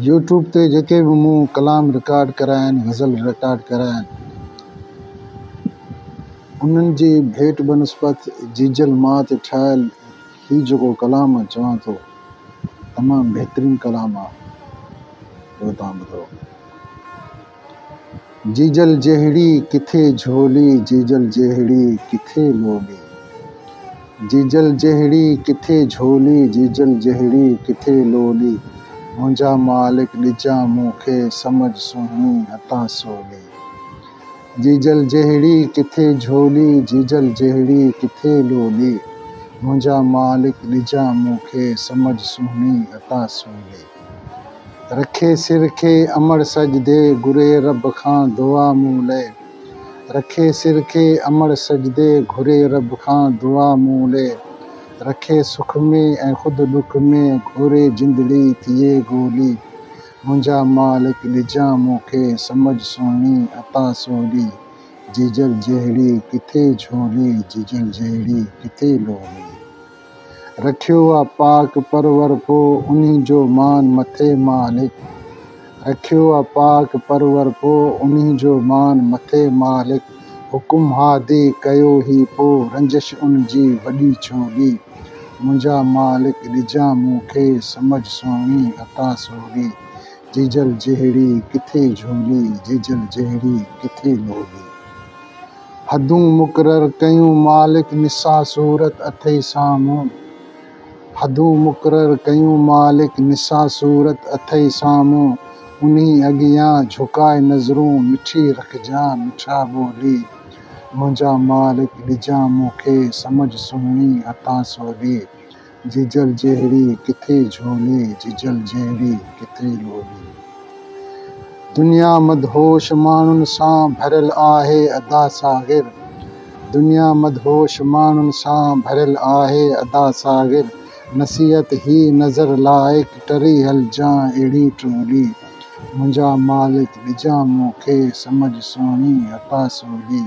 YouTube تي جيڪي به مون ڪلام رڪارڊ ڪريا آهن غزل رڪارڊ ڪريا آهن انهن جي ڀيٽ بنسبت جيجل ماء تي ٺاهيل هي جيڪو ڪلام آهي چوان ٿو تمام بهترين ڪلام آهي اهو توهان ٻڌو. جيجل جهڙي ڪٿي جهولي، جيجل جهڙي ڪٿي لولي. جيجل جهڙي ڪٿي جهولي، جيجل جهڙي ڪٿي لولي. منهنجا مالڪ ڏجان مون کي، سمجهه سهڻي هتان سولي. جيجل جهڙي ڪٿي جهولي، جيجل جهڙي ڪٿي لولي. منهنجا مالڪ ڏجان مون کي، سمجهه سهڻي هتان سولي. رکي سر کي امڙ سڄ دي، گهري رب کان دعا مون لئه رکي سر کي امڙ سڄ دي، گهري رب کان دعا مون لئه رکي سک ۾ ۽ خود ڏک ۾، گهري جندڙي ٿئي گولي منهنجا مالڪ ڏجان مون کي، سمجهه سهڻي عطا سولي جيجل جهڙي ڪٿي جهولي، جيجل جهڙي ڪٿي لولي. رکيو آ پاڪ پرور پو انهي جو مان مٿي مالڪ رکيو آ پاڪ پرور پو انهي جو مان مٿي مالڪ حڪم ها دي ڪيو هي پو رنجش ان جي وڏي ڇوڳي منهنجا مالڪ ڏجان مون کي سمجھ سهڻي عطا سوڳي جيجل جهڙي ڪٿي جهولي جيجل جهڙي ڪٿي لوڳي. حدون مقرر ڪيون مالڪ نساء صورت اٿئي سامهون حدون مقرر ڪيون مالڪ نساء صورت اٿئي سامهون انهي اڳيان جهڪائي نظرون مٺي رکجان مٺا ٻولي منهنجا مالڪ ڏجان مون کي سمجهه سهڻي عطا سولي جيجل جهڙي ڪٿي جهولي، جيجل جهڙي ڪٿي لولي. دنيا مدهوش ماڻهن سان ڀريل آهي ادا ساغر، دنيا مدهوش ماڻهن سان ڀريل آهي ادا ساغر، نصيحت هي نظر لائق ٽري هلجان اهڙي ٽولي، منهنجا مالڪ ڏجان مون کي سمجهه سهڻي ادا سولي،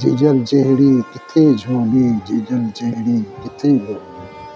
جيجل جهڙي ڪٿي جهولي، جيجل جهڙي ڪٿي لولي.